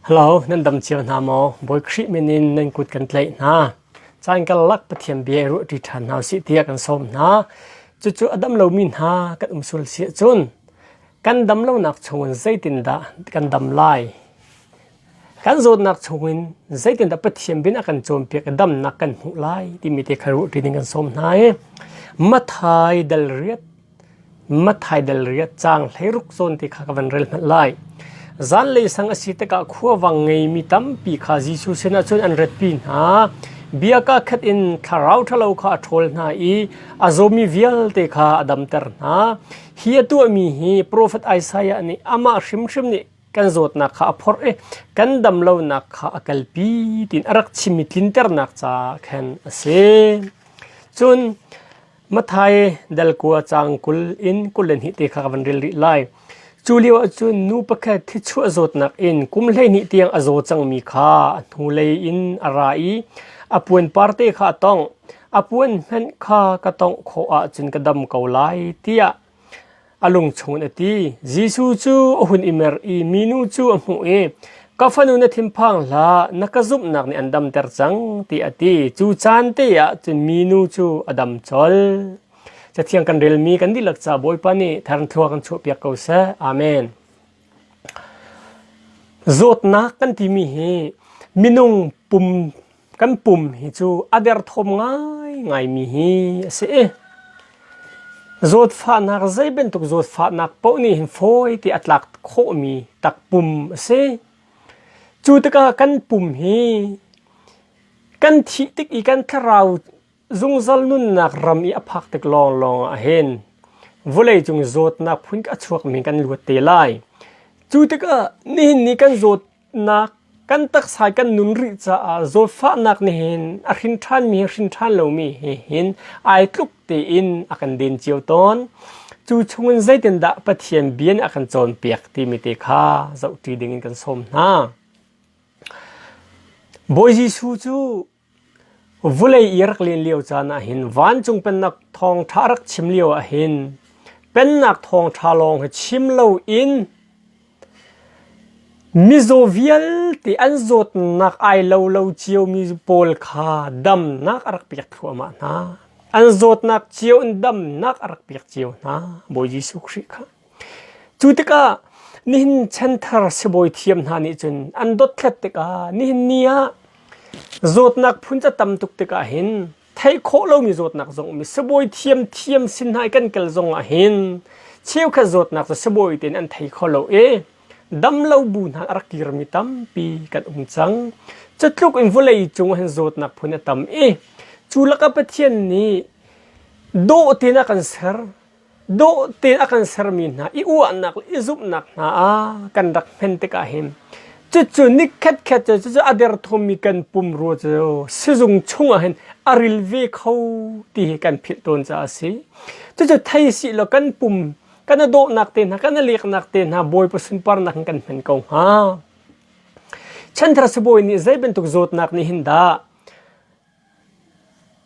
Halo, nan dam cio hna maw? Bawi Khrih min in nan kut kan tlaih hna. Caan karlak Pathian bia i ruahṭi ṭhan hna u sih tiah kan sawm hna. Cucu a dam lomi hna kan um sual si ahcun kan dam lonak chungin zeitindah kan dam lai? Kan zawtnak chungin zeitindah Pathian bin a kan cawnpiak i damnak kan hmuh lai timi te kha ruahṭi ding kan sawm hna i Mathai dal riat Mathaidal ri a cang hleiruk zawn ti kha ka van rel hmanh lai. Zanlei sang a si tikah khuavang ngeimi tampi kha Jesuh sinah cun an ratpi hna. Bia kakhat in thlarau ṭhalo kha a ṭhawl hna i a zawmi vialte kha a damter hna. Hi a tuahmi hi profet Isaiah nih amah hrimhrim nih kan zawtnak kha a phorh i kan damlonak kha a kalpi tiin a rak chim i tlinternak ca khan a si. Cun Mathai delkua caang kul in kul le hnih te kha ka van rel rih lai. Cu lio ah cun nu pakhat thichuah zawtnak in kum hleihnih tiang a zaw cangmi kha a hnulei in a ra i a puanpar te kha a tongh. A puan hmanh kha ka tongh khawh ahcun ka dam ko lai tiah A lung chungin a ti, Jesuh cu a hun i mer i minu cu a hmuh i, Ka fanu na thinphang hlah, na ka zumhnak nih an damter cang, tiah a ti. Cu caan te ah cun minu cu a dam colh. Cathiang kan relmi kan dihlak ca Bawipa nih thangthua kan chuahpiak ko seh. Amen. Zawtnak kan timi hi minung pum kan pum hi cu a derthawm ngaingaimi hi a si i zawtfahnak zei bantuk zawtfahnak paoh nih hin fawi ti a tlak khawhmi takpum a si. Cu tikah kan pum hi kan thih tik i kan thlarau Zungzal nunnak ram i a phak tik lawnglawng ah hin vawleicung zawtnak phun a chuakmi kan luat te lai. Cu tikah nihin ni kan zawtnak kan taksa kan nun rih caah zawtfahnak nihin a hrin ṭhanmi he hrin ṭhan lomi he hin ai tluk tein a kan den cio tawn. Cu chungin zeitindah Pathian bia nih a kan cawnpiak timi te kha zohṭi dingin kan sawm hna. Bawi Jesuh cu Vulei i rak len lio caan ahhin vancung Pennak thawngṭha a rak chim lio ahhin Pennak thawngṭha lawng hi chim loin mizaw vialte an zawtnak ai lo lo ciomi pawl kha damnak a rak pek thluahmah hna. An zawtnak cio in damnak a rak pek cio hna, Bawi Jesuh Khrih kha. Cu tikah nihin chanthar sibawi thiam hna nih cun an dothlat tikah nihin ni ah zawtnak phun ca tam tuk tikah hin theih khawh lomi zawtnak zong um i sibawi thiam thiam sin hna i kan kal zong ah hin cheukhat zawtnak cu sibawi tein an thei kho lo i damlo bu hna a rak kirmi tampi kan um cang. Cutluk in vawlei cung ah hin zawtnak phun a tam i cu lakah Pathian nih dawh tein a kan ser. dawh tein a kan sermi hna i uahnak le i zumhnak hna a kan rak hman tikah hin cucu ni khatkhat cu cucu a derthawmmi kan pumrua cu sizung chungah hin a ril ve kho ti hi kan philh tawn caah a si cucu thei si law kan pum kan a dawhnak te hna kan a leknak te hna bawipa sunparnak in kan hman ko hnga chanthar sibawi nih zei bantuk zawtnak nih hin dah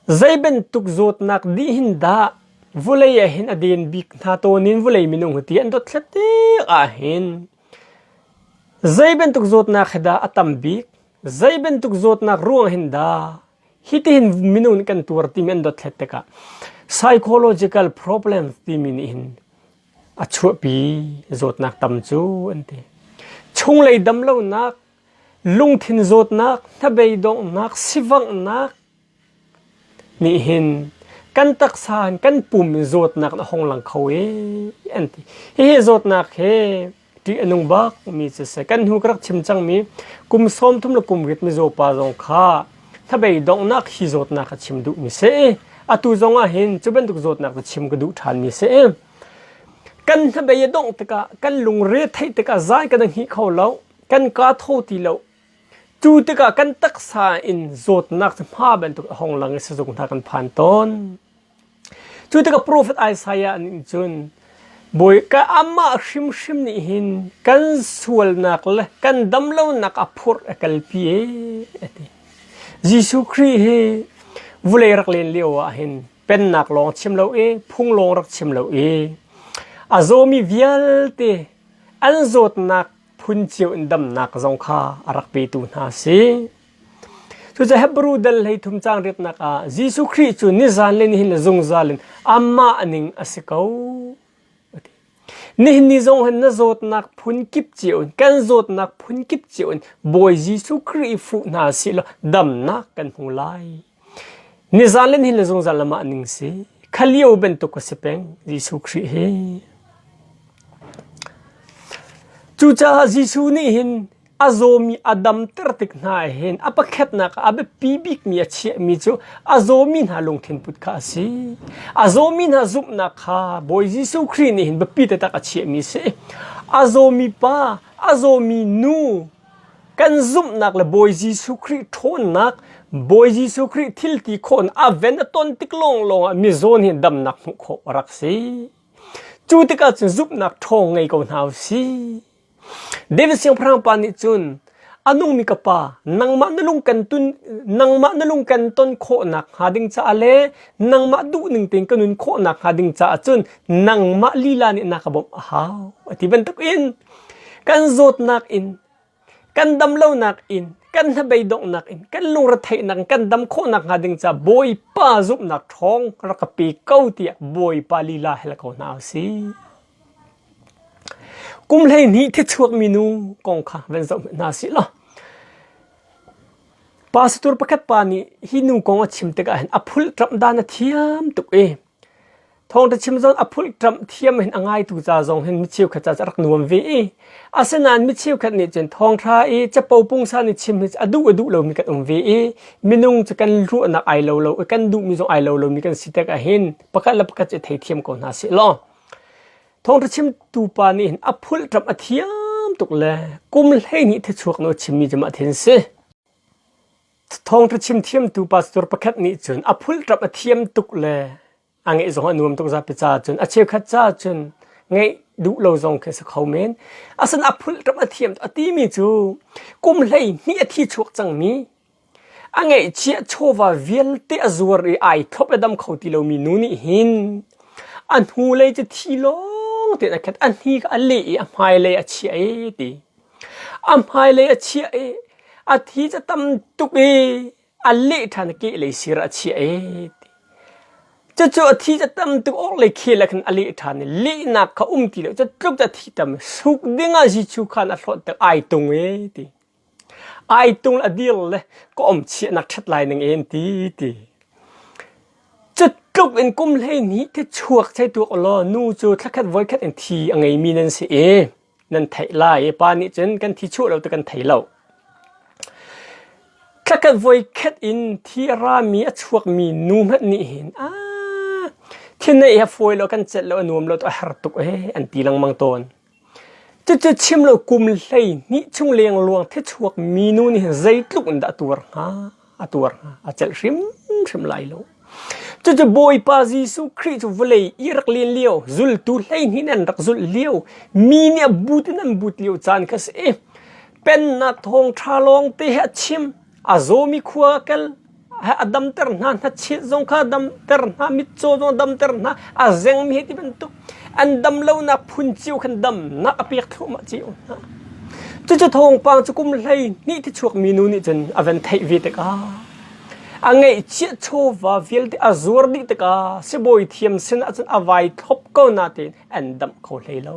Zei bantuk zawtnak dih hin dah vulei ah hin a den bik hna tawn in vulei minung hi ti an dawt thletik ahhin zei bantuk zawtnak hi dah a tam bik, zei bantuk zawtnak ruang hin dah hitihin minung nih kan tuar timi an dawt thlet tikah psychological problems timi nih hin a chuahpi zawtnak tam cu an ti. Chunglei damlonak Lungthin zawtnak, hnabei donghnak, sivanghnak nih hin kan taksa in kan pum in zawtnak na hong lang kho i an ti. Hihi zawtnak he ṭih a nung bakmi cu a si. Kan hnu ka rak chim cangmi kum sawm thum le kum rit mizaw pa zong kha hnabei donghnak hi zawtnak a chim duhmi si i atu zongah hin cu bantuk zawtnak cu chim ka duh ṭhanmi si i kan hnabei a dongh tikah kan lungre theih tikah zai kan i hngih kho lo. kan ka tho ti lo cu tikah kan taksa in zawtnak cu hma bantuk a hong lang i sizung hna kan phan tawn cu tikah profet Isaiah nih cun Bawika amah hrimhrim nih hin kan sualnak le kan damlonak a phurh a kalpi e a ti Jesuh Khrih hi vulei rak len lio ah hin pennak lawng chim lo e phung lawng rak chim lo e a zawmi vialte an zawtnak phun cio in damnak zong kha a rak petu hna a si. Cucu Hebrew dal hlei thum cang riatnak ah Jesuh Khrih cu nizan le nihin zungzal in amah ning a si ko. Nihin ni zong hin na zawtnak phun kip cio in kan zawtnak phun kip cio in Bawi Jesuh Khrih fuh hna si law damnak kan hmu lai. Nizan le ni le zungzal lam ah ning si. Kha lio bantuk a si peng Jesuh Khrih hi. Cucaah Jesuh nih hin a zawmi a damter tik hna hin a pakhatnak ah a biapi bikmi a chiahmi cu a zawmi hna lungthin put kha a si. A zawmi hna zumhnak kha Bawi Jesuh Khrih nih hin biapi taktak a chiahmi a si. A zawmi pa, a zawmi nu, Kan zumhnak le Bawi Jesuh Khrih ṭhawnnak, Bawi Jesuh Khrih thil ti khawhnak aven a ton tik lawnglawng ah mizawn hi damnak hmuh khawh a rak si. Cu tikah cun zumhnak ṭhawng ngei ko hna u sih. David siangpahrang pa nih cun a nungmi ka pa nangmah na lung kan tun nangmah na lung kan ton khawhnak hnga ding caah le nangmah duhning tein ka nun khawhnak hnga ding caah cun nangmah lila nih na ka bawmh a hau a ti bantukin Kan zawtnak in, kan dam lonak in, kan hnabei donghnak in, kan lungretheihnak in kan dam khawhnak hnga ding caah Bawipa zumhnak ṭhawng rak ka pe ko tiah Bawipa lila hel ko hna u si. Kum hleihnih thichuak minu kong kha van zoh hna si law pa satur pakhat pa nih hi nu kong a chim tikah hin a phul ṭamh dan a thiam tuk i Thawngṭha chim zong a phulṭamh thiam in a ngaitu ca zong hin mi cheukhat ca cu a rak nuam ve i asinain mi cheukhat nih cun thawngṭha i capo pungsan i chim hi a duh a duh lomi kan um ve i minung cu kan ruahnak ai lo lo i kan duhmi zong ai lo lomi kan si tik ahhin pakhat le pakhat cu i theithiam ko hna seh law thawngṭha chimtu pa nih hin a phulṭamh a thiam tuk le kum hleihnih thichuak nawl chimmi cu mah thi an si. Thawngṭha chim thiamtu pastor pakhat nih cun a phulṭap a thiam tuk le a ngeih zong a nuam tuk zapi caah cun a cheukhat caah cun ngeih duh lo zong khi a si kho men. Asan a phulṭap a thiam a timi cu kum hleihnih a thi chuak cangmi a ngeihchiah chawva vialte a zuar i ai thlop le dam kho ti lomi nu nih hin a hnulei cu thi lawng tein a khat, a hni kha a leh i a hmailei a chiah ee ti. a hmailei a chiah i a thi cu tam tuk i a leh ṭhan i kehlei sir ah a chiah i cucu a thi cu tam tuk awk le khel ah khin a leh ṭhan i lehnak kha um ti lo cu tluk cu a thi tam suk dingah Jesuh khan a hlawt tik ai tung e ti ai tung le a dir le ka om chiahnak ṭhat lai ning en ti ti cu tluk in kum hleihnih thi chuak chei tuak u law nu cu thlakhat voikhat in thi a ngeimi nan si i nan theih lai i pa nih cun kan thi chuah lo ti kan thei lo. Thlakhat voikhat in thi a rami a chuakmi nu hmanh nih hin a thinei hi a fawi lo kan celh lo a nuam lo tu a har tuk ee an ti lengmang tawn. Cucu chim lo kum hlei hnih chung lengluang thi chuak mi nu nih hin zeitluk in dah a tuar hnga. a tuar hna a celh hrimhrim lai lo cucu bawipa jesuh khrih cu vawlei i rak len lio zultu hleihnih an rak zulh lio mi nih a but in an but lio caan kha si pennak thawng ṭha lawng te he a chim a zawmi khua kel a damter hna hnachit zong kha damter hna mitcaw zong damter hna a zengmi hi ti bantuk An dam lonak phun cio khan damnak a pek thluahmah cio hna. Cucu thawngpang cu kum hlei hnih ti chuak mi nu nih cun a van theih ve tikah a ngeihchiah chawva vialte a zuar dih tikah sibawi thiam sinah cun a vai thlop ko na tein an damh kho hlei lo.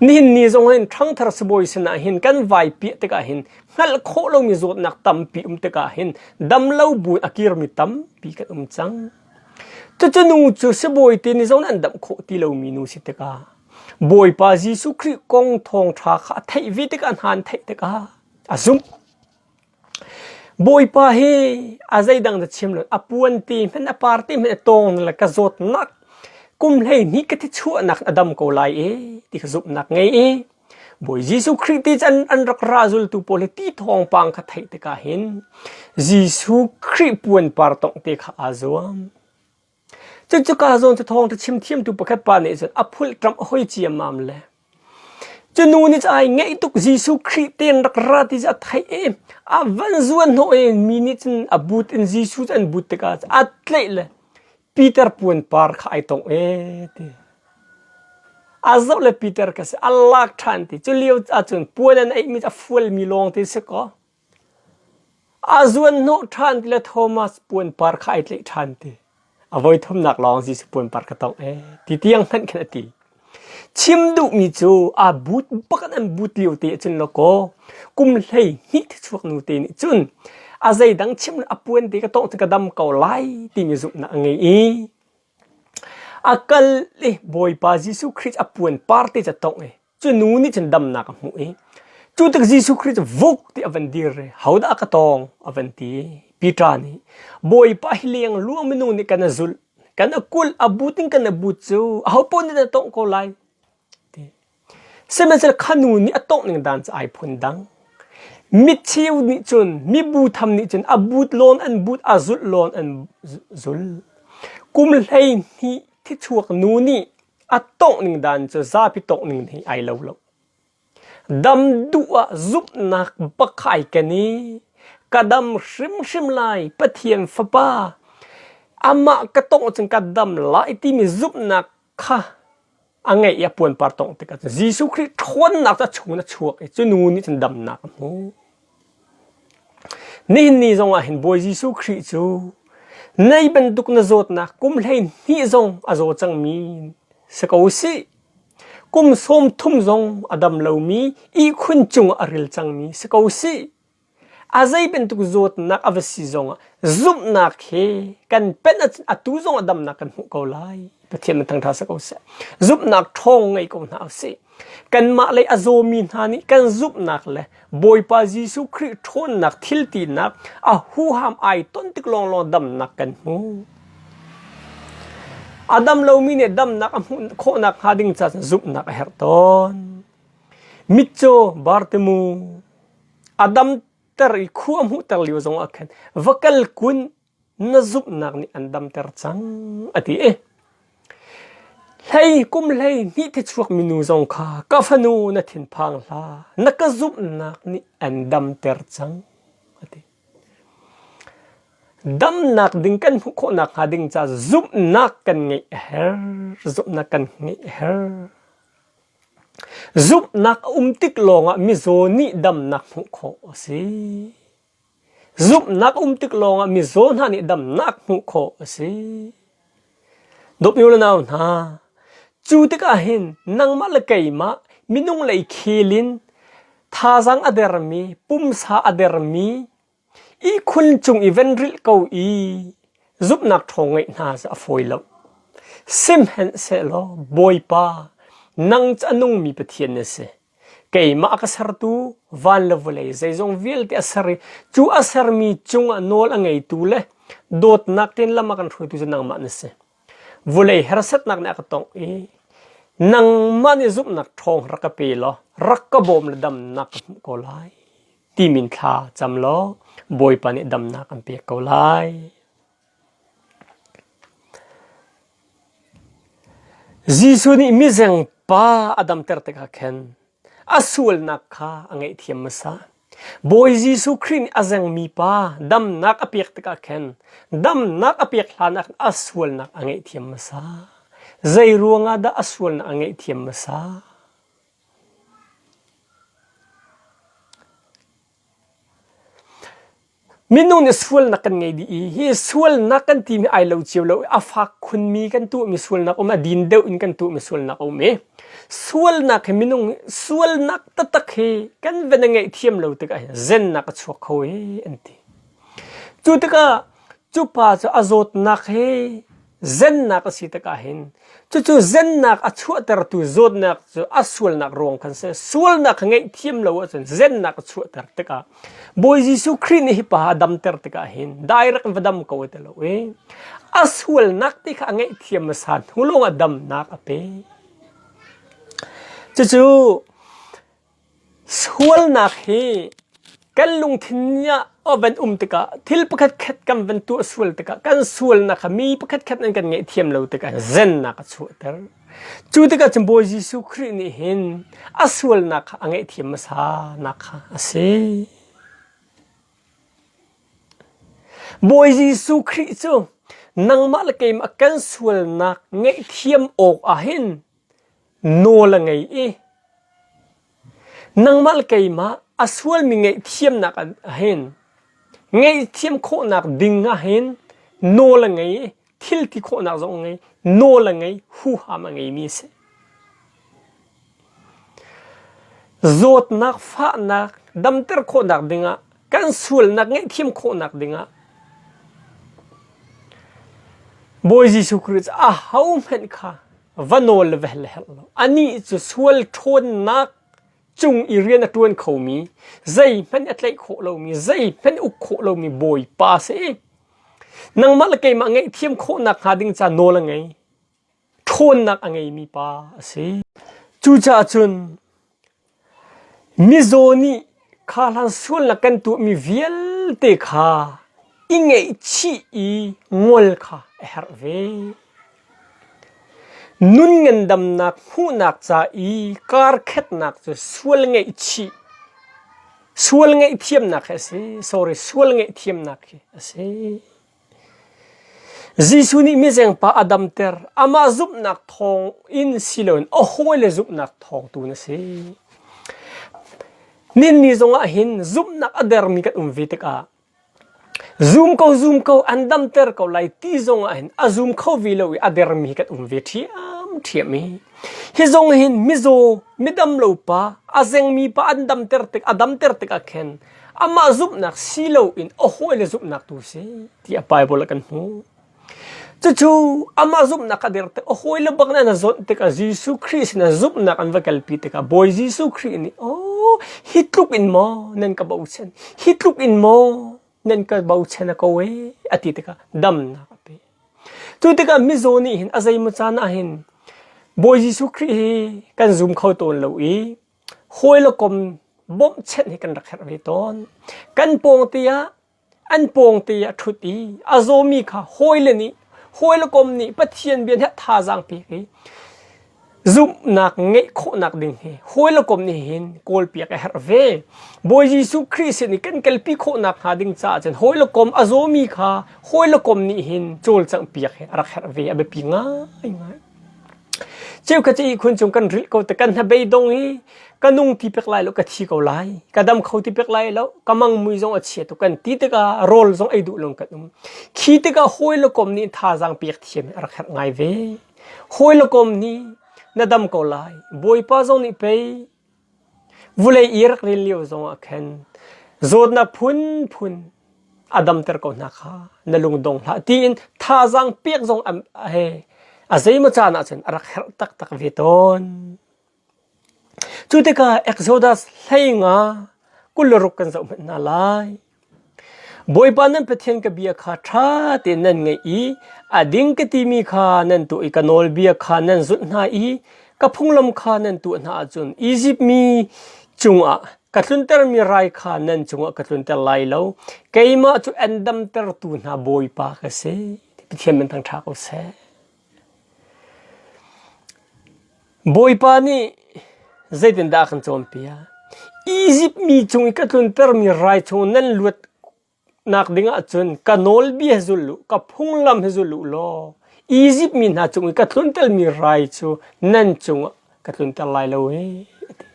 Nihin ni zong hin ṭhangthar sibawi sinah hin kan vai piah tikah hin hngalh khawh lomi zawtnak tampi um tikah hin damlo buin a kirmi tampi kan um cang. Cucu nu cu sibawi te nih zon an damh khawh ti lomi nu si tikah Bawipa Jesuh Khrih kong thawngṭha kha a theih ve tikah hna an theih tikah a zumh. Bawipa hi a zeidang na chim lo a puan te hmanh a par te hmanh a tawng le ka zawtnak kum hlei hnih ka thi chuahnak a dam ko lai e ti ka zumhnak ngei i Bawi Jesuh Khrih ti an, an rak ra zultu pawl hi ti thawngpang kha theih tikah hin Jesuh Khrih puanpar tongh te kha aa zuam. Cucu kaa zawn cu thawngtha chim thiamtu pakhat pa nih cun a phulh tram a hoi ciammam le cu nu nih ai ngeih tuk Jesuh Khrih tein rak ra ti cu a theih i a van zuan hnawh i mi nih cun a but in Jesuh cu an but tikah a tleih le Peter puanpar kha ai tong e ti a zoh le Peter ka si a lak ṭhan ti cu lio ahcun puan an eih mi a fual mi lawng ti si kaw a zuan hnawh ṭhan ti le Thomas puanpar kha ai tleih ṭhan ti a voi thumnak lawng Jesuh puanpar ka tong e ti tiang hmanh khin a ti Chim duhmi cu aa but bakan an but lio te ah cun lawkaw kum hlei hnih thichuak nu te nih cun a zeidang chim a puan te ka tawngh cu ka dam ko lai timi zumhnak a ngei i a kal i Bawipa Jesuh Christ a puan par te ca tawngh i cu nu nih cun damnak a hmuh i cu tik Jesuh Christ vuk ti a van dir i hodah a ka tawng a van ti Peter nih Bawipa hi leng luang minu nih kan a zulh kan akul abu ting kan abu cu aho pon nih dah tongh ko lai ti sihmanhsehlaw khanu nih a tongh ning dan cu ai phun dang mitcheu nih cun mibu tham nih cun a but lawn an but a zulh lawn an zul kum hlei hnih thi chuak nu nih a tongh ning dan cu zapi tongh ning hi ai lo lo Dam duh ah zumhnak va khai ken i ka dam hrimhrim lai Pathian Fapa, amah ka tawngh ahcun ka dam lai timi zumhnak kha a ngeih i a puanpar tawngh tikah cun Jesuh Khrih ṭhawnnak cu a chung in a chuak i cunu nih cun damnak a hmuh. Nihin ni zongah hin Bawi Jesuh Khrih cu nei bantuk na zawtnak kum hleihnih zong a zaw cangmi si ko u sih. Kum sawm thum zong a dam lomi ihkhun cung ah a ril cangmi si ko sih. A zei bantuk zawtnak a va si zong ah zumhnak he kan penh ahcun atu zong ah damnak kan hmuh ko lai. Pathian in thangṭha si ko seh. Zumhnak ṭhawng ngei ko hna u sih. Kanmah lei a zawmi hna nih kan zumhnak le Bawipa Jesuh Khrih ṭhawnnak thiltinak a huham ai ton tik lawnglawng damnak kan hmu. A dam lomi nih damnak a hmuh khawh nakhnga ding caah zumhnak a herh tawn. Mitcaw Bartemu a damter i khu a hmuhter lio zong ah khan va kal kun na zumhnak nih an damter cang, a ti i hlei kum hlei hnih thichuak minu zong kha ka fanu na thinphang hlah, na ka zumhnak nih an damter cang, a ti. Damnak ding kan hmuh khawh nakhnga ding ca zumhnak kan ngeih a herh, zumhnak kan ngeih a herh. Zumhnak a um tik lawngah mizaw nih damnak hmuh khawh a si. Zumhnak a um tik lawngah mizaw hna nih damnak hmuh khawh a si. Dawp u le nau hna, cu tikah hin nangmah le keimah minung lei khel in thazang a dermi, pumsa a dermi, ihkhun cung i ven rilh ko i zumhnak ṭhawng ngeih hna cu a fawi lo. Sihmanhsehlaw Bawipa, nang cu a nungmi Pathian na si. keimah ka sertu van le vawlei zeizong vialte a ser i cu a sermi cungah nawl a ngeitu le dawtnak tein lam a kan hruaitu cu nangmah na si. Vawlei harsatnak nih a ka tongh i nangmah nih zumhnak ṭhawng rak ka pe law rak ka bawm le damnak ka hmuh ko lai ti min thla cam law Bawipa nih damnak an pek ko lai. Jesuh nih mizeng pa a damter tikah khin a sualnak kha a ngaihthiam hmasa. Bawi Jesuh Khrih nih a zengmi pa damnak a pek tikah khin damnak a pek hlanah khin a sualnak a ngaihthiam hmasa. Zei ruangah dah a sualnak a ngaihthiam hmasa? Minung nih sualnak kan ngei dih i hi sualnak kan timi ai lo cio lo i a fak khunmi kan tuhmi sualnak um a din deuh in kan tuhmi sualnak a um i sualnak hi minung sualnak taktak hi kan van i ngaih thiam lo tikah hin zennak a chuak kho hi an ti. Cu tikah cu pa cu a zawtnak hi zennak a si tikah hin cucu zennak a chuahtertu zawtnak cu a sualnak ruang khan si sualnak ngeih thiam lo ahcun zennak a chuahter tikah Bawi Jesuh Khrih nih hipa a damter tikah hin direct va dam ko ti lo i a sualnak ti kha a ngeih thiam hmasa hnu lawng ah damnak a pe cucu Sualnak hi kan lungthin ah a van um tikah thil pakhatkhat kan van tuah sual tikah kan sualnak kha mi pakhatkhat an kan ngaihthiam lo tikah zennak a chuahter. Cu tikah cun Bawi Jesuh Khrih nih hin a sualnak kha a ngaihthiam hmasanak kha a si. Bawi Jesuh Khrih cu nangmah le keimah kan sualnak ngaihthiam awk ah hin Nawl a ngei i nangmah le keimah a sualmi ngaihthiamnak ahhin ngaihthiam khawhnak ding ahhin nawl a ngei i thil ti khawhnak zong a ngei. Nawl a ngei, huham a ngeimi a si. Zawtnak, fahnak damter khawhnak dingah kan sualnak ngaihthiam khawhnak dingah Bawi Jesuh Khrist ahohmanh kha va nawl ve le herh lo anih cu sual ṭhawnnak cung i rian a ṭuan khomi zeihmanh a tlaih khawh lomi zeihmanh uk khawh lomi bawipa si nangmah le keimah ngaihthiam khawhnak hnga ding ca nawl a ngei ṭhawnnak a ngeimi pa a si cucaah cun Mizaw nih kha hlan suallak kan tuahmi vialte kha i ngaihchih i ngol kha a herh ve. Nun ngandamnak hmuhnak ca i karkhetnak cu sual ngaihchih, sual ngaihthiamnak hi a si. Sorry, sual ngaihthiamnak hi a si. Jesuh nih mizengpa a damter. Amah zumhnak thawng in si loin a hawile zumhnak thawng tu na si. Ninni zongah hin zumhnak a dermi kan um ve tikah zum ko zum ko an damter ko lai ti zongah hin a zum kho ve lo i a dermi kan um ve ṭhiam ṭhiam i hi zong hin mizaw midam lo pa a zengmi pa an damter tik a damter tikah khin amah zumhnak si loin a hawi le zumhnak tu si ti a Bible kan hmu cucu amah zumhnak a der te a hawi le bak na na zon tikah Jesuh Christ na zumhnak an va kalpi tikah Bawi Jesuh Christ nih oh hi tluk in maw nan ka bochan hi tluk in maw nan ka bochan a ko e a ti tikah damnak a pe tu tikah mizaw nih hin a zeimacan ah hin Bawi Jesuh Christ hi kan zum kho tawn lo i hawi le kom bawmhchenh hi kan rak herh ve tawn. Kan pawngte ah an pawngte ah a ṭhut i a zawmi kha hawile nih hawile kom nih Pathian bia nih a thazaang pek i zumhnak ngeih khawhnak ding hi hawile kom nih hin kawlpiak a herh ve. Bawi Jesuh Khrih sin i kan kalpi khawhnak hnga ding caah cun hawile kom a zawmi kha hawile kom nih hin cawlcangh piak hi a rak herh ve a biapi ngaingai. Cheukhat cu ihkhun cung kan rilh ko te kan hnabei dong i ka nung ti pek lai lo ka thi ko lai ka dam kho ti pek lai lo ka mangmui zong a chia tuk kan ti tikah rawl zong ei duh lo kan um khi tikah hawi le kom nih thazaang pek thiam a rak herh ngai ve hawi le kom nih na dam ko lai bawipa zong nih pei Vulei i rak ril lio zongah khan zawtnak phunphun a damter ko hna kha na lungdong hlah tiin thazaang pek zong he a zeimaw caan ah cun a rak herh taktak ve tawn. Cu tikah Exodus hleinga kul le ruk kan zoh hmanh hna lai. Bawipa nan Pathian ka bia kha ṭha tein nan ngaih i a ding ka timi kha nan tuah i ka nawlbia kha nan zulh hna i ka phunglam kha nan tuah hna ahcun Izipt mi cungah ka tluntermi rai kha nan cungah ka tlunter lai lo. Keimah cu an damtertu hna Bawipa ka si, ti Pathian min thang ṭha ko seh. Bawipa nih zeitindah a kan cawnpiak? Izipt mi cung i ka tluntermi rai chung nan luatnak dingah cun ka nawlbia hi zul u, ka phunglam hi zul u law Izipt mi hna cung i ka tluntermi rai cu nan cungah ka tlunter lai lo e, a ti.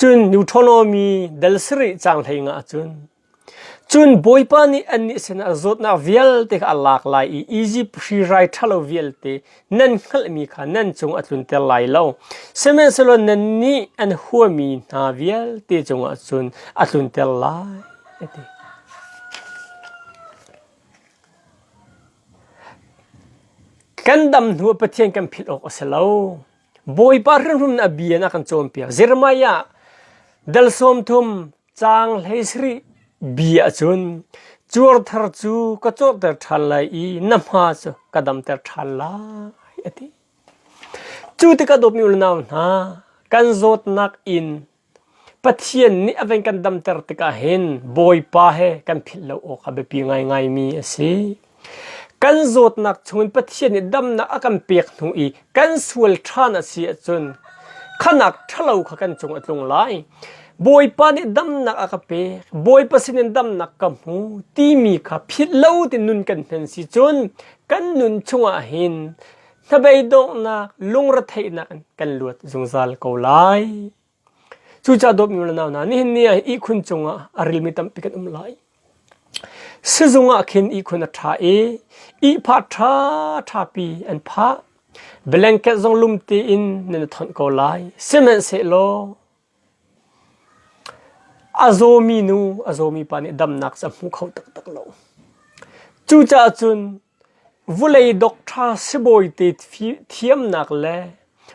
Cun Deuteronomy dal sarih caang hleinga ah cun, Cun Bawipa nih annih sinah zawtnak vialte kha a lak lai i Izipt hri rai ṭhalo vialte nan hngalhmi kha nan cung a tlunter lai lo. Sihmanhsehlaw nannih an huami hna vialte cungah cun a tlunter lai, a ti. Kan dam hnuah Pathian kan philh awk a si lo. Bawipa hrimhrim nih a bia na kan cawnpiak. Jeremiah dal sawm thum Caang hlei sarih bi ahcun cuar thar cu ka cawhter ṭhan lai i na hma cu ka damter ṭhan lai a ti. Cu ti ka dawtmi unau hna kan zawtnak in Pathian nih a ven kan damter tikah hin Bawipa he kan philh lo awk a biapi ngaingaimi a si. Kan zawtnak chungin Pathian nih damnak a kan pek hnu i kan sual ṭhan a si ahcun khanak ṭhalo kha kan cung a tlung lai. Bawipa nih damnak a ka pek, Bawipa sinin damnak ka hmu timi kha philh lo ding nun kan hman si cun kan nun chungah hin hnabei donghnak lungretheihnak in kan luat zungzal ko lai. Cucah dawpnu le nau hna, nihin ni ah ihkhun cungah a rilmi tampi kan um lai. Sizung ah khin ihkhun a ṭha i ihpha ṭhaṭhapi an phah. Blanket zong lumte in nan i thonh ko lai. Sihmanhsehlaw a zawmi nu, a zawmi pa nih damnak cu a hmu kho taktak lo. Cucaah cun Vulei docṭha sibawite thiamnak le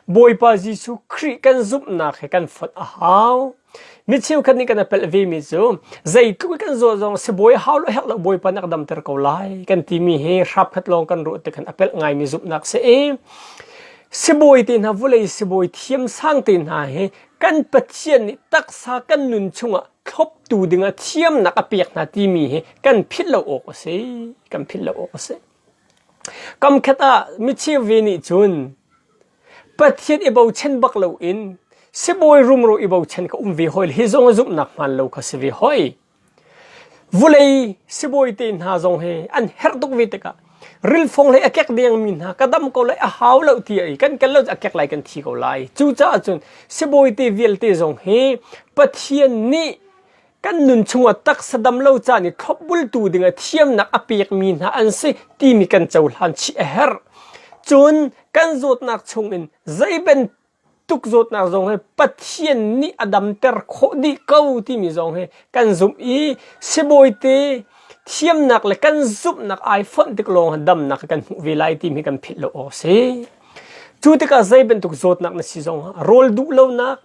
Bawipa Jesuh Khrih kan zumhnak he kan fonh a hau. Mi cheukhat nih kan i pelh vemi cu zeitluk i kan zuah zong sibawi hau le herh lo Bawipa nih a ka damter ko lai kan timi hi hrapkhat lawng kan ruah tikhan a pelh ngaimi zumhnak si i sibawi te hna, vulei sibawi thiam sang te hna hi kan Pathian nih taksa kan nun chungah thloptu dingah thiamnak a pek hna timi hi kan philh lo awk a si kan philh lo awk a si kamkhat ah micheu ve nih cun pathian i bochan bak lo in sibawi rumro i bochan ka um ve hoi hi zong zumhnak hman lo kha si ve hoi vulei sibawi te hna zong hi an herh tuk ve tikah rilfong le a kek dengmi hna ka dam ko lai a hau lo ti ai kan kal lo a kek lai kan thi ko lai cucaah cun sibawite vialte zong hi pathian nih kan nun chungah taksa dam lo caan i thlopbultu dingah thiamnak a pekmi hna an si timi kan cohlan chih a herh cun kan zawtnak chungin zeiben tuk zawtnak zong he Pathian nih a damter khawh dih ko timi zong he kan zumh i sibawite thiamnak le kan zumhnak ai fonh tik lawng damnak kan hmuh ve lai timi kan philh lo awk si. Cu tikah zei bantuk zawtnak na si zong rawl duh lonak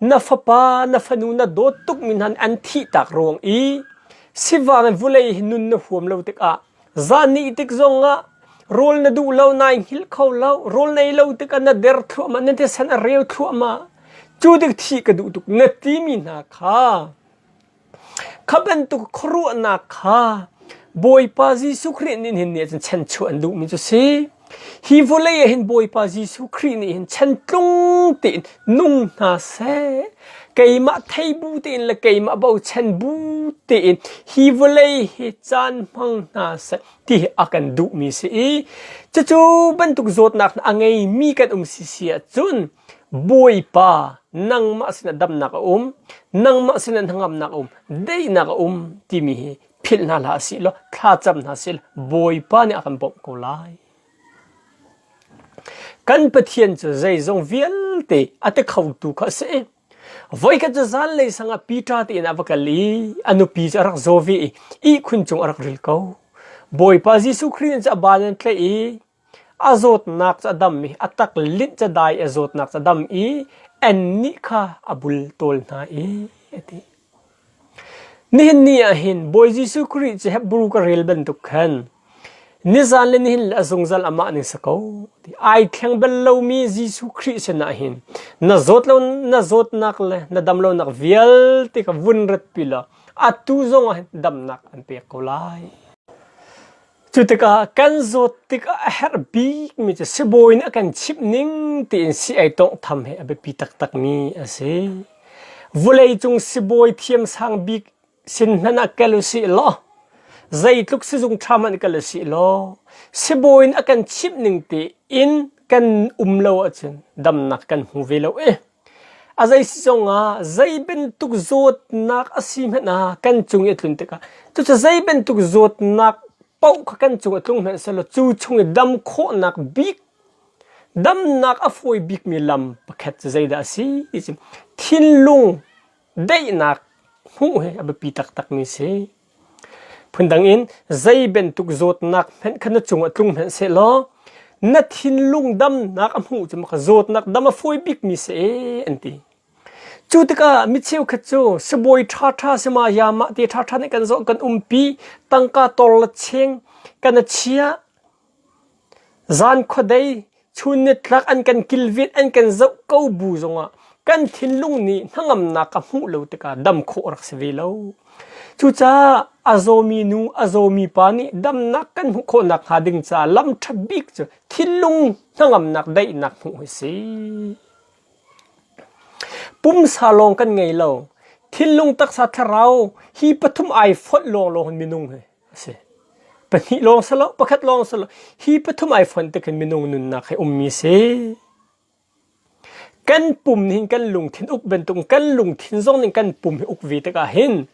Na fapa na fanu na dawt tukmi hna nih an thihtak ruang i sivangin vulei hi nun na huam lo tikah zan nih tik zongah rawl na duh lo nai hngilh kho lo rawl nei lo tikah na der thluahmah na thisen a reu thluahmah cu tik thih ka duh tuk na timi hna kha Kha bantuk khuaruahnak kha Bawipa Jesuh Khrih nih hin cun chanchuah an duhmi cu si. Hi vawlei ah hin Bawipa Jesuh Khrih nih hin chantlung tein nung hna seh. Keimah thei bu tein le keimah bochan bu tein hi vawlei hi caan hmang hna seh ti hi a kan duhmi si i cucu bantuk zawtnak a ngeimi kan um si si ahcun Bawipa nangmah sinah damnak a um, nangmah sinah hnangamnak a um, daihnak a um timi hi philh hna hlah si law thlacam hna si law Bawipa nih a kan bawmh ko lai. Kan Pathian cu zeizong vialte a te khotu kha a si. Voikhat cu zanlei sangah Peter te in a va kal i a nupi cu a rak zo ve i ihkhun cung a rak ril ko. Bawipa Jesuh Khrih cu a ban an tlaih i A zawtnak cu a dam i a taklinh cadai i a zawtnak cu a dam i annih kha a bultawl hna i a ti. Nihin ni ah hin Bawi Jesuh Khrih cu Hebrew ka rel bantuk khan nizan le nihin le a zungzal amah ning si ko ti ai thleng bal lomi Jesuh Khrih sinah hin na zawt lo na zawtnak le na dam lonak vialte ka vun ratpi law atu zongah hin damnak an pek ko lai. Cu tikah kan zawt tikah a herh bikmi cu sibawi nih a kan chimh ning tiin si-ai tawnghtham hi a biapi taktakmi a si. Vuleicung sibawi thiam sang bik sin hmanh ah kal u sih law, zeitluk sizung ṭha hmanh kal u sih law, sibawi nih a kan chimh ning tiin kan um lo ahcun damnak kan hmu ve lo i A zeisi zongah zei bantuk zawtnak a si hmanh ah kan cung i a tlun tikah cucu zei bantuk zawtnak paoh kha kan cung a tlung hmanh sehlaw cu chung i dam khawhnak bik damnak a fawi bikmi lam pakhat cu zeidah a si ti cu thinlung daihnak hmuh hi a biapi taktakmi a si. Phundang in zei bantuk zawtnak hmanh kha na cungah tlung hmanh sehlaw na thinlung damnak a hmuh cu maka zawtnak dam a fawi bikmi si ee an ti. Cu tikah mi cheukhat cu sibawi ṭhaṭha si ma ya mah te ṭhaṭha nih kan zoh kan umpi tangka tawr le cheng kan a chia Zan khuadei, chun nitlak an kan kilvit an kan zoh ko bu zongah kan thinlung nih hnangamnak a hmuh lo tikah dam khawh rak si ve lo. Cucaah a zawmi nu, a zawmi pa nih damnak kan hmuh khawh nakhnga ding caah lam ṭha bik cu thinlung hnangamnak daihnak hmuh hi a si. Pumsa lawng kan ngei lo. Thinlung taksa thlarau hi pathum ai fonh lawnglawng hin minung hi asi. Pahnih lawng si lo, pakhat lawng si lo. Hi pathum iPhone te khin minung nunnak he ummi si. Kan pum nih hin kan lungthin uk bantuk kan lungthin zong nih kan pum hi uk ve tikah hin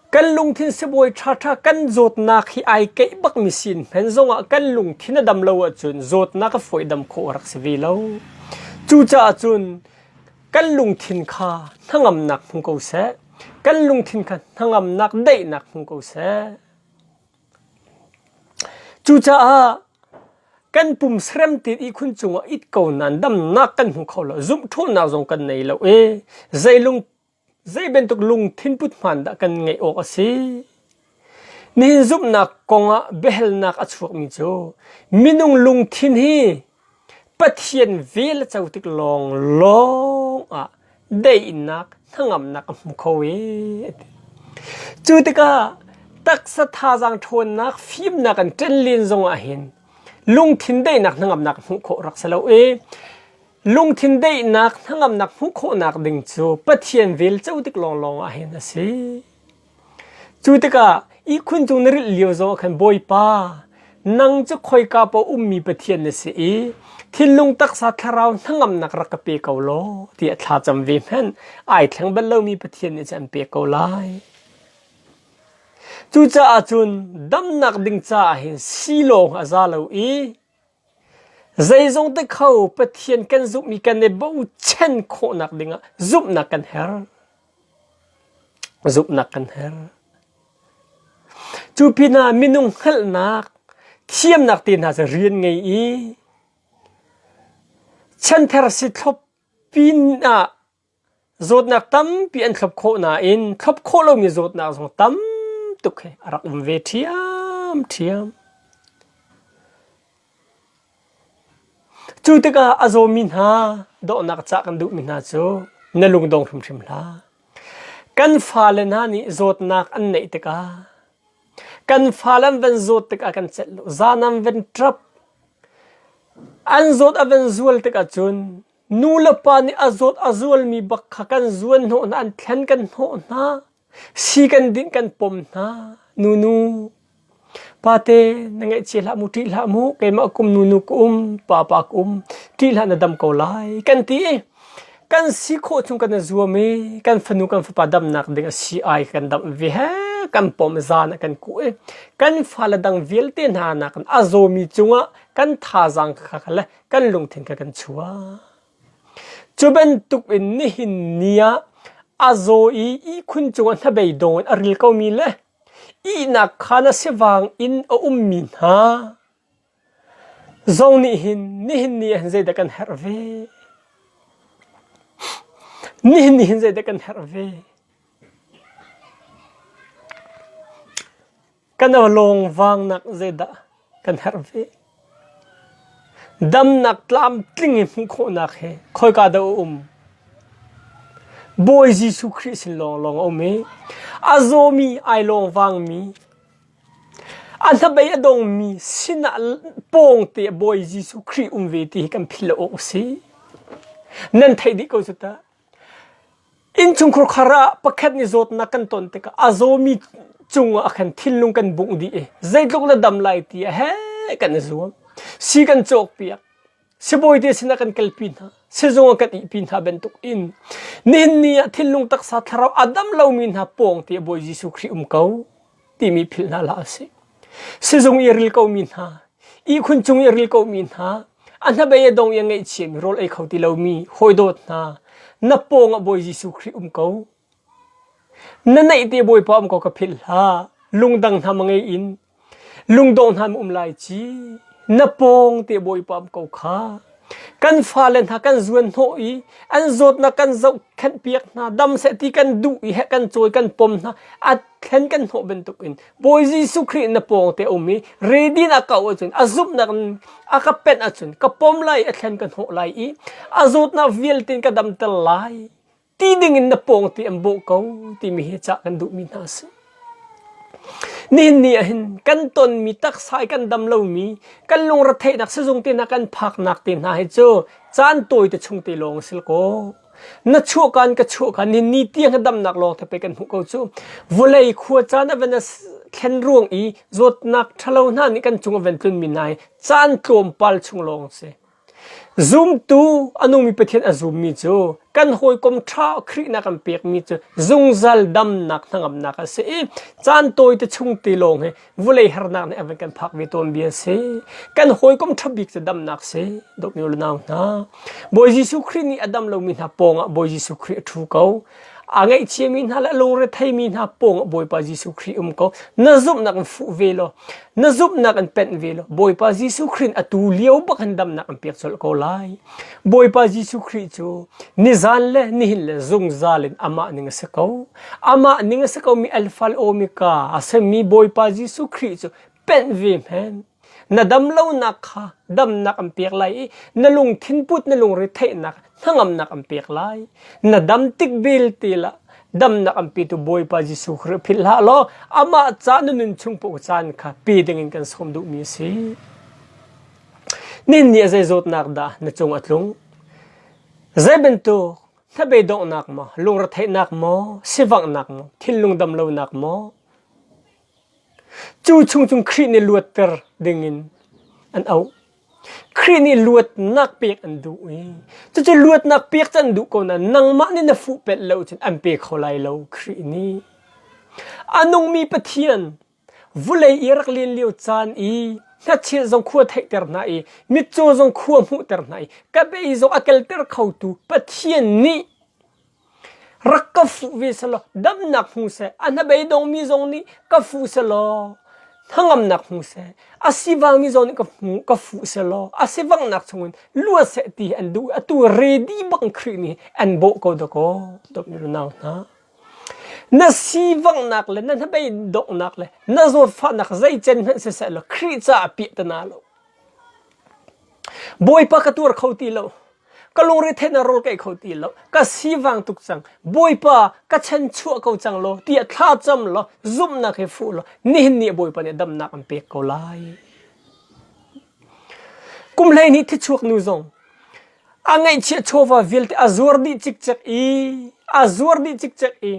kan lungthin sibawi ṭhaṭha kan zawtnak hi ai keih bak mi sin hmen zongah kan lungthin a dam lo ahcun zawtnak a fawi dam khawh a rak si ve lo. Cucaah cun kan lungthin kha hnangamnak hmu ko seh kan lungthin kha hnangamnak daihnak hmu ko seh cucaah kan pum seremtin i khun cungah it ko nan damnak kan hmu kho lo zumhthulnak zong kan nei lo i zeilung zei bantuk lungthin put hman dah kan ngeih awk a si Min zumhnak kongah biahalnak a chuakmi cu minung lungthin hi Pathian vel a co tik lawnglawng ah daihnak hnangamnak a hmu kho i a ti. Cu tikah taksa thazaang ṭhawnnak fimnak an ṭen len zongah hin lungthin daihnak hnangamnak hmuh khawh rak si lo i lungthin daihnak hnangamnak hmuh khawhnak ding cu Pathian vel co tik lawnglawng ah hin a si. Cu tikah ihkhun cung na rilh lio zong ah khan Bawipa, nang cu khoika pa ummi Pathian na si i thinlung taksa thlarau hnangamnak rak ka pe ko law tiah thla cam ve hmanh ai thleng bal lomi Pathian nih cun an pek ko lai. Cucaah cun damnak ding caah hin si lawng a za lo i Zeizong ti kho Pathian kan zumhmi kan i bochan khawhnak dingah zumhnak kan herh. Zumhnak kan herh. Cu pin ah minung hngalhnak, thiamnak te hna cu rian ngei i, chanthar si thlop pin ah zawtnak tampi an thlop khawh nain thlop khawh lomi zawtnak zong tam tuk he a rak um ve ṭhiamṭhiam. Cu tikah a zawmi hna dohnak cah kan duhmi hna cu na lungdong hrimhrim hlah. Kan fale hna nih zawtnak an neih tikah kan fale an van zawt tikah kan celh lo. Zan an van ṭap. An zawt a van zual tikah cun Nu le pa nih a zawt a zualmi bak kha kan zuanhnawh hna, an thlen kan hnawh hna, si kan dinh kan pom hna. Nunu, pate na ngaihchia hlah mu, ṭih hlah mu, keimah kum nunu ka um, papa ka um, ṭih hlah na dam ko lai, kan ti i kan si khawh chung kan i zuam i kan fanu kan fapa damnak ding a si ai kan damh ve he kan pom zan ah kan kuh i kan fale dang vialte hna nakin a zawmi cungah kan thazaang kha le kan lungthin kha kan chuah. Cu bantuk in nihin ni ah a zaw i ihkhun cungah hnabei dong in a ril komi le ihnak kha na sivang in a ummi hna zong nih hin nihin ni ah zeidah kan herh ve? Nihin ni hin zeidah kan herh ve? Kan awlawng vangnak zeidah kan herh ve? Damnak tlamtling i hmuh khawhnak he khoika dah a um? Bawi Jesuh Khrih sin lawng lawng a um i a zawmi ai lawng vangmi a hnabei a dongmi sinah pawngte Bawi Jesuh Khrih um ve ti hi kan philh awk a si. Nan theih dih ko cu ta. Innchungkhur khar ah pakhat nih zawtnak kan ton tikah a zawmi cungah ah khan thinlung kan bungh dih i zeitluk na dam lai ti a he kan i zuam. Si kan cawkpiak. Sibawite sinah kan kalpi hna. Sizung ah kan ihpi hna bantuk in nihin ni ah thinlung taksa thlarau a dam lomi hna pawng ti a Bawi Jesuh Khrih um ko. timi philh hna hlah si. Sizung i ril komi hna, ihkhun cung i ril komi hna, a hnabei a dong i a ngaihchia mi rawl ei kho ti lomi hawidawt hna, na pawng ah Bawi Jesuh Khrih um ko. Na neihte Bawipa um ko ka philh hlah. Lungdang hna mangei in lungdong hna um lai ci na pawng te Bawipa um ko kha kan fale hna kan zuan hnawh i an zawtnak kan zoh khenh piak hna dam seh ti kan duh i he kan cawi kan pom hna a thlen kan hnawh bantuk in Bawi Jesuh Khrih na pawng te um i redin a kau ahcun a zumhnak a ka pen ahcun ka pom lai a thlen ka hnawh lai i a zawtnak vialte ka damter lai ti dingin na pawng ti an bawh ko timi hi cah kan duhmi hna si nihin ni ah hin kan tonmi taksa i kan dam lomi kan lungretheihnak sizung te hna kan phaknak te hna hi cu caan tawi te chung te lawng sil ko na chuah kan ka chuah kan ni ni tiang ka damnak lawng te pe kan hmuh ko cu vulei khua caan a ven a thlen ruang i zawtnak thalo hna nih kan cung a ven tlun mi nai caan tlawm pal chung lawng si zumtu anumi pathian a zum mi cu kan hawikom tha khrih na kan pek mi cu zungzal damnak hnangamnak a si i caan tawi te chung te lawng he vulei harnak nih a van kan phak ve tawn bi an si kan hawikom ṭha bik cu damnak si dawpmi u le nau hna Bawi Jesuh Khrih nih a dam lomi hna pawngah Bawi Jesuh Khrih a ṭhu ko a ngaihchiami hna le a lungre theimi hna pawngah Bawipa Jesuh Khrih um ko na zumhnak in fuh ve law na zumhnak in penh ve law Bawipa Jesuh Khrih a tu lio bak in damnak an pek colh ko lai Bawipa Jesuh Khrih cu nizan le nihin le zungzal in amah ning a si ko amah ning a si komi alfa le omega a semmi Bawipa Jesuh Khrih cu penh ve hmen na dam lonak kha damnak an pek lai i na lungthin put na lungre theihnak hnangamnak an pek lai na dam tik belte la damnak an petu Bawipa Jesuh Khrih philh hlah law amah ca na nun chung puk caan kha pe dingin kan sawm duhmi a si ninni a zei zawtnak dah na cung a tlung zei bantuk Hlabe donghnak maw, lungretheihnak maw, sivanghnak maw, thinlung dam lonak maw, cu chung cung Khrih nih luatter dingin an auh. Khrih nih luatnak pek an duh i cucu luatnak pek cu an duh ko nain nangmah nih na fuh pet lo cun an pe kho lai lo Khrih nih. A nungmi Pathian Vulei i a rak len lio caan i hnachia zong khua theihter hna i mitcaw zong khua hmuhter hna i ka bei zong a kelter khotu Pathian nih rak ka fuh ve selaw damnak hmu seh, a hnabeidongmi zong nih ka fuh selaw hnangamnak hmu seh, a sivangmi zong nih ka hmu ka fuh selaw a sivanghnak chungin lua seh ti hi an duh i atu ready bang Khrih nih an bawh ko dakaw. Dawp nih a nau hna. Na sivanghnak le na hnabei donghnak le na zawtfahnak zeicen hmanh sisehla Khrih caah piah ti naa lo. Bawipa ka tuar kho ti lo. Ka lungrethein a rawl kaih kho ti lo. Ka sivang tuk cang. Bawipa ka chanchuah ko cang law tiah thlacam law zumhnak he fuh law nihin ni Bawipa nih damnak an pek ko lai. Kum hlei nih thichuak nu zong a ngeihchiah chawva vialte a zuar dih cikcek i a zuar dih cikcek i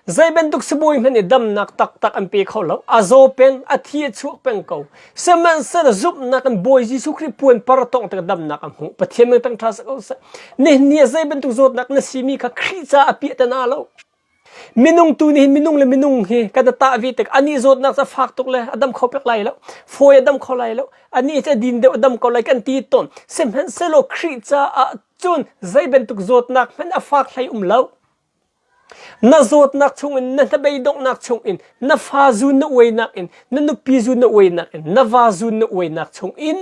zei bantuk sibawi hmanh nih damnak taktak an pe kho lo a zaw pen a thi a chuak peng ko sihmanhsehlaw zumhnak in Bawi Jesuh Khrih puanpar tawng tik damnak a hmuh Pathian meng tangṭha seh ko seh nihni ah zei bantuk zawtnak na simi kha Khrih caah a piah te hna lo Minung tu nih minung le minung hi kan tah vi tek ani zawtnak ca fak tuk le adam kho pek lai lo foi adam kho lai lo ani ca din deuh adam ko lai kan ti ton semhen selo khri ca ah cun zei bantuk zawtnak hman a fak hlei um lo na zawtnak chungin na hnabei donghnak chungin na fa zu na uainak in na nupi zu na uainak in na va zu na uainak chungin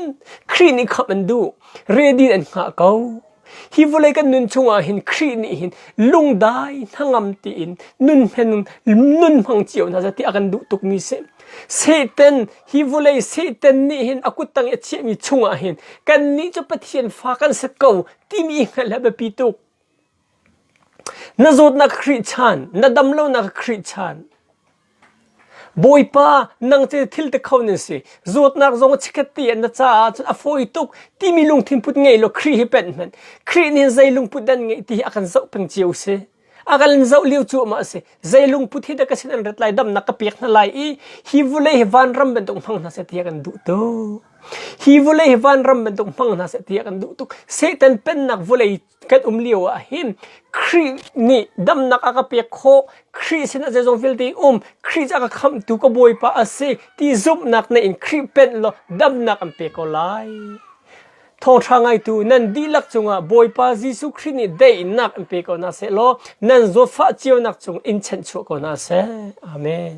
khri nih kham an duh redin an ngah ko Hi vawlei kan nun chungah hin Khrih nih hin lungdai hnangam tiin nun hmen nun hmang cio hna seh ti a kan duh tukmi si. Satan hi vawlei Satan nih hin a kut tang i a chiahmi chungah hin kannih cu Pathian fa kan set ko timi hngalh a biapi tuk. Na zawtnak Khrih chan, na damlonak Khrih chan, Bawipa, nang cu thil te kho nan si. Zawtnak zong chikkhat ti an na caah cun a fawi tuk timi lungthin put ngei law Khrih hi penh hmanh. Khrih nih hin zei lungput dan ngeih ti hi a kan zoh peng cio si. A kan zoh lio cu amah a si. Zei lungput hi dah ka sin an rat lai damnak ka pek hna lai i hi vulei hi vanram bantuk hmang hna seh ti a kan duh tuk. Hi vulei hi vanram bantuk hmang hna seh ti a kan duh tuk. Satan pennak vulei kan um lio ah hin Khrih nih damnak a ka pek khawh Khrih sinah zeizong vialte um Khrih cu a ka khamhtu ka bawipa a si ti zumhnak in Khrih pen law damnak an pe ko lai thawngṭha ngaitu nan dihlak cungah Bawipa Jesuh Khrih nih daihnak an pe ko hna seh law nan zawtfah cionak cung in chanh chuah ko hna seh amen